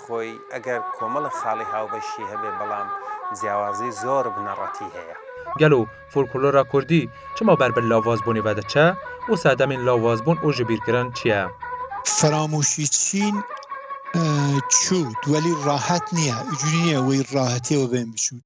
Xwey eger komela xalî hawbeşî hebe belam ciyawazî zor bi neretî heye. Gelo folklora kurdî çima ber bi lawazbûnê vediçe û sedemên lawazbûn û jibîrkirin çi ye? Firamûşî çîn çû welî rahet nîye, icûnî nîye wê rahetî we bên biçûn.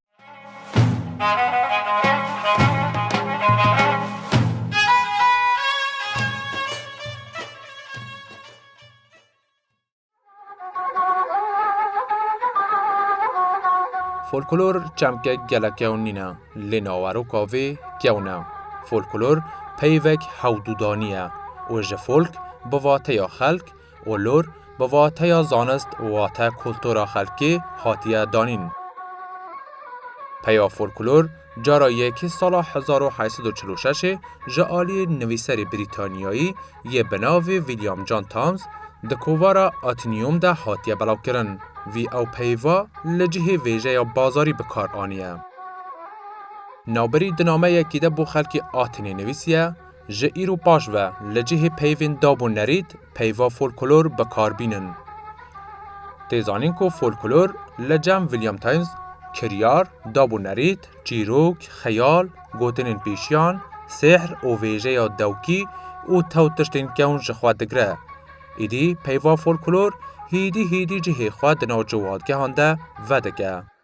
Folklor çemkek gelek kewn nîne lê naweroka vê kewn e. Folklor peyvek hewdûdanî ye û ji folk bi vateya xelk û lor bi vateya zanist wate kultura xelkê hatiye danîn. Peya folklor Cara yekê sala hezar û heşt sed û çil û şeşê ji aliyê nivîserê Brîtanyayî yê bi navê William John Thams di kovara Atinium de hatiye belavkirin. Vî ew peyva li cihê vêjeya bazarî bi kar aniye. Navberî di nameyekî de bo xelkê Atinê nivîsiye, Ji îro paş ve li cihê peyvên dab û nerît peyva folklor bi kar bînin. Tê zanîn ku folklor li cem William Times, kiryar, dab û nerît, çîrok, xeyal, gotinên pêşiyan, sêhr û vêjeya dewkî û tew tiştên kewn ji xwe digire. Îdî peyva folklor hîdî hîdî cihê xwe di nav ciwadgehan de vedike.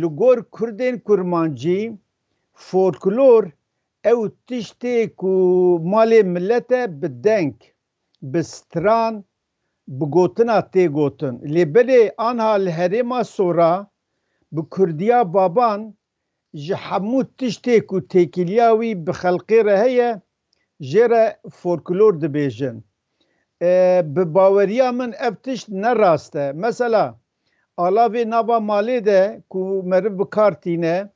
Li gor kurdên kurmancî folklor ew tiştê ku malê milet e bi deng, bi stran, bi gotina tê gotin. Lê belê anha li herêma sora bi kurdiya baban ji hemû tiştê ku têkiliya wî bi xelqê re heye Jê re folklor dibêjin. Bi baweriya min ev tişt ne rast e. Mesela, alavê nava malê de ku meriv bi kar tîne,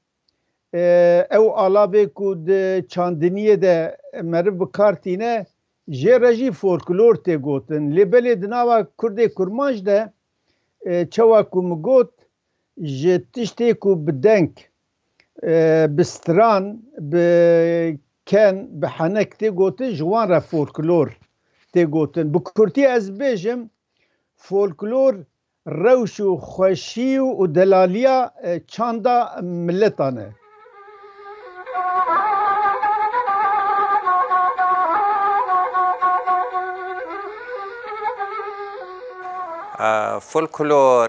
ew alavê ku di çandiniyê de meriv bi kar tîne, jê re jî folklor tê gotin. Lê belê di nava Kurdê kurmanc de, çawa ku min got, ji tiştê ku bi deng, Bi stran, bi ken, bi henek tê gotin ji wan re folklor tê gotin. Bi kurtî ez bêjim folklor rewş û xweşî û delalîya çanda miletan e. Folklor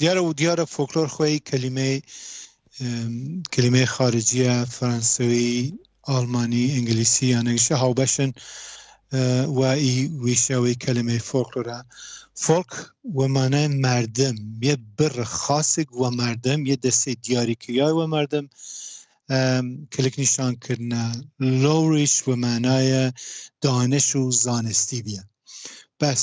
Diyare û diyare foklor xweyî kelîmeyê kelîmeyê xariciye, fransewî, almanî, îngilîsî yan egişe hawbeş in we î wîşe wê kelimeyê foklor e. Folk we manayê merdim yê bir xasik we merdim yê destê diyarîkiriyayê we merdim kilik nîşan kirine lowrîş we manayê daniş û zanistî bîye. Bes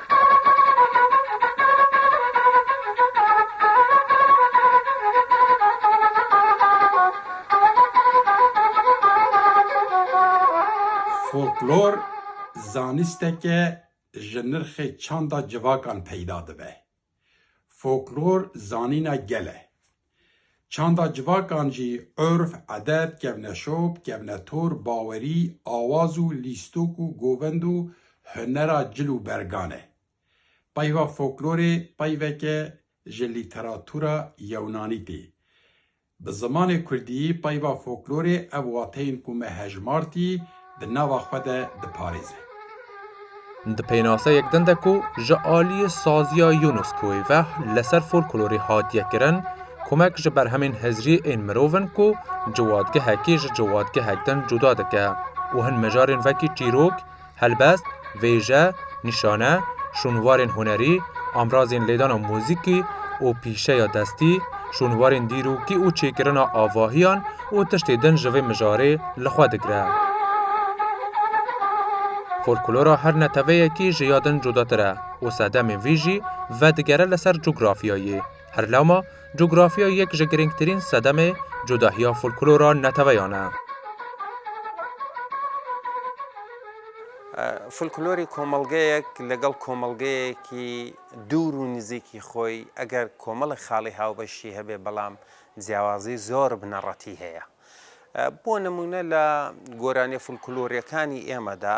Folklor zanisteke ji nirxê çanda civakan peyda dibe. Foklor zanîna gel e. Çanda civakan jî urf, edet, kevneşop, kevnetor, bawerî, awaz û lîstok û govend û hunera cil û bergan e. Peyva foklorê peyveke ji lîteratûra yewnanî tê. Bi zimanê kurdî peyva foklorê ev wateyên ku me hejmartî di nava xwe de diparêze. Di pênaseyek din de ku ji aliyê saziya Yunus Kuêveh li ser folklorê hatiye kirin, komek ji berhemên hizriyê ên mirov in ku ciwadgehekê ji ciwadgehek din cuda dike û hin mijarên vekî çîrok, Helbest, vêje, nîşane, şûnwarên hunerî, amrazên lêdana muzîkî û pîşeya destî, şûnwarên dîrokî û çêkirina avahiyan û tiştê din ji vê mijarê li xwe digire. Folklora her neteweyekî ji ya din cudatir e û sedemên vî jî vedigere li ser cografyayê. Her lama, cografya yek ji girîngtirîn sedemê cudahiya folklora neteweyan e. Folklorê komelgeyek li gel komelgeyekî dûr û nizîkî xwe eger komelek xalî hawbeş jî hebe belam ciyawazî zor bi neretî heye. Bo nimûne li goranê folklorekanî ême de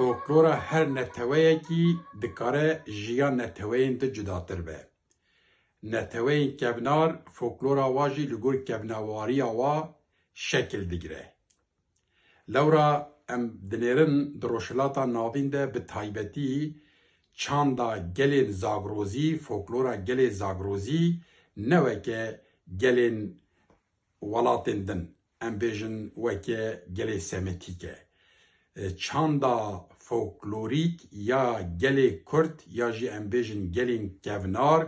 Folklora her neteweyekî dikare ji ya neteweyên din cudatir be. Neteweyên kevnar folklora wan jî li gor kevnawariya wan şekil digire. Lewra em dinêrin di Rojhilata Navîn de bi taybetî çanda gelên Zagrozî, foklora gelê Zagrozî ne weke gelên welatên din em bêjin weke gelê Semitîk e. Çanda foklorîk ya gelê Kurd ya jî em bêjin gelên kevnar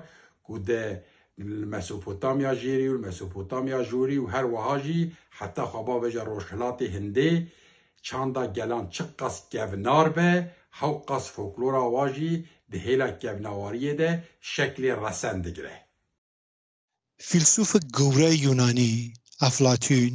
ku di li Mesopotamya Jêrî û li Mesopotamya Jorî û her weha jî heta xwebaveja Rojhilatê Hindê çanda gelan çi qas kevnar be hew qas foklora wa jî di hêla kevnawariyê de şeklê resen digire. Fîlsûfek gewre Yûnanî Eflatûn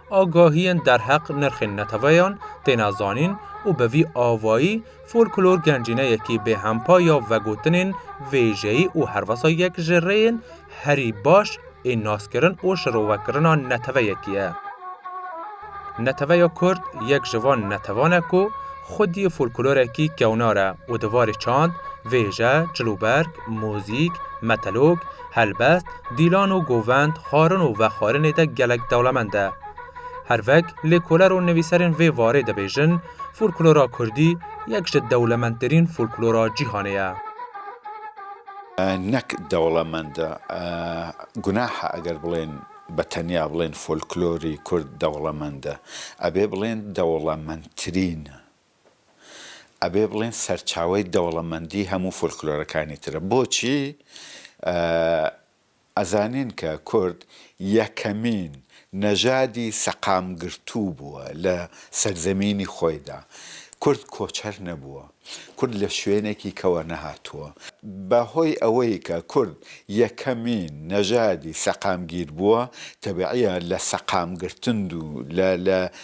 Agahiyên derheq nirxên neteweyan têne zanîn û bi vî avayî folklor gencîneyekî bêhempa ya vegotinên vêjeyî û herwesa yek ji rêyên herî baş ê naskirin û şirovekirina neteweyekî ye. Neteweya Kurd yek ji van netewan e ku xwedî folklorekî kewnar e û di varê çand, vêje, cilûberg, mûzîk, metelok, helbest, Dîlan û Govend xwarin û vexwarinê de gelek dewlemend e. Hervek lêkoler û nivîserên vê varê dibêjin folklora kurdî yek ji dewlemendtirîn folklora cîhanê ye. Nek dewlemend e, gunah e eger bilên be tenya bilên folklorî kurd dewlemend e. Ebê bilên dewlemendtirîn. Ebê bilin serçawey dewlemendî hemû folklorekanî tire. Boçî? Ez zanîn ke kurd yekemîn nejadî seqamgirtû bûwe li serzemînî xoyê de. Kurd koçer nebûwe. Kurd li şwênekî kewe nehatuwe. Be hoy ewey ke kurd yekemîn nejadî seqamgîr bûwe, tebîî ye li seqamgirtindû, li, li.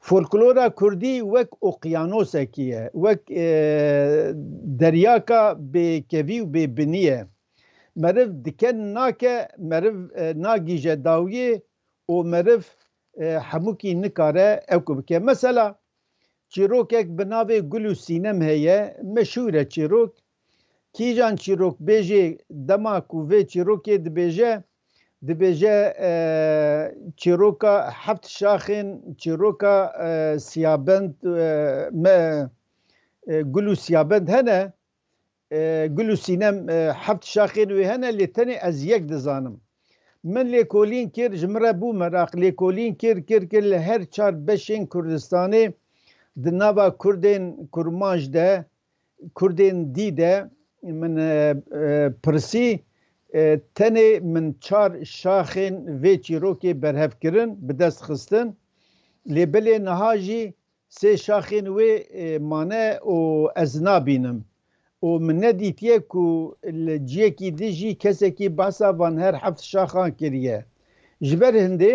Folklora Kurdî wek oqyanosekî ye, wek deryaka bêkevî û bêbinî ye. Meriv dike nake, meriv nagîje dawiyê û meriv hemûkî nikare ew ku bike. Mesela, çîrokek bi navê Gul û Sînem heye, meşhûr e çîrok, Kîjan çîrokbêjê dema ku vê çîrokê dibêje, dibêje çîroka heft şaxên çîroka siyabend me gul û siyabend hene, gul û sînem heft şaxên wê hene lê tenê ez yek dizanim. Min lêkolîn kir, ji min re bû meraq, lêkolîn kir, kir, kir li her çar beşên Kurdistanê di nava Kurdên kurmanc de Kurdên dî de min pirsî tenê min çar şaxên vê çîrokê berhev kirin bi dest xistin lê bilê niha jî sê şaxên wê mane û ez nabînim û min nedîtiye ku li ciyekî dijî kesekî behsa van her heft şaxan kiriye ji ber hindê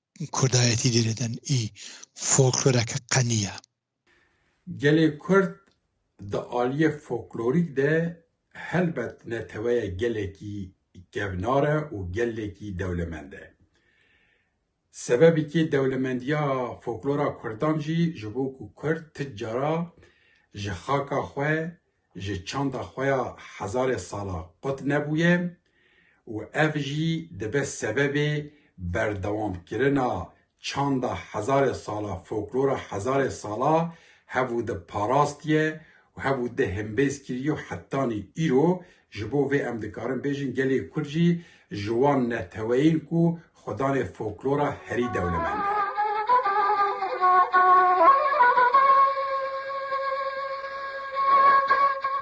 Kurdayetî dê lidin î folkloreke qenî ye. Gelê Kurd di aliyê folklorîk de helbet neteweya gelekî kevnar e û gelekî dewlemend e. Sebebekî dewlemendiya folklora kurdan jî ji bo ku kurd ti cara ji xaka xwe ji çanda xwe ya hezarê sala qut nebûye û ev jî dibe sebebê berdewamkirina çanda hezarê sala foklora hezarê sala hev û di parastiye û hev û di himbêz kiriyo hetanî îro ji bo vê em dikarin bêjin gelê Kurd jî ji wan neteweyên ku Xwedanê folklora herî dewlemend e.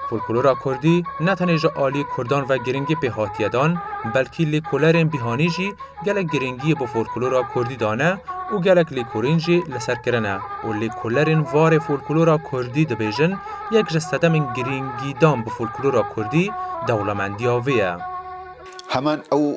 Folklora kurdî ne tenê ji aliyê kurdan ve girîngî pê hatiye dan, belkî lêkolerên bîhanî jî gelek girîngiyê bi folklora kurdî dane û gelek lêkolîn jî li ser kirine û lêkolerên varê folklora kurdî dibêjin yek ji sedemên girîngîdan bi folklora kurdî dewlemendiya vê ye. Heman ew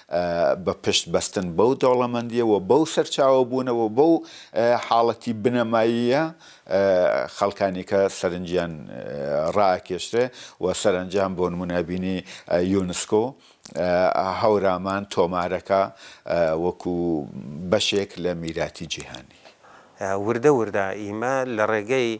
Bi pişt bestin bew dewlemendiyê û bew serçawebûne û bew haletî binemayî ye xelka nîka serinciyan raekêştire û serencam bo nimûne bînî UNESCO Hewraman tomareka wekû beşêk li mîratî cîhanî. Wirde wirde îme li rêgeyê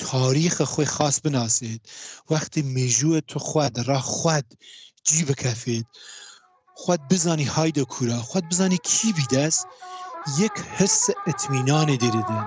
Tarîxê xwe xas binasêt, wextê mêjûyê tu xwe di ra xwed cî bikefêt, xwed bizanî hayde kûra, xwed bizanî kî bî des, yek hisse itmînanê dê didin.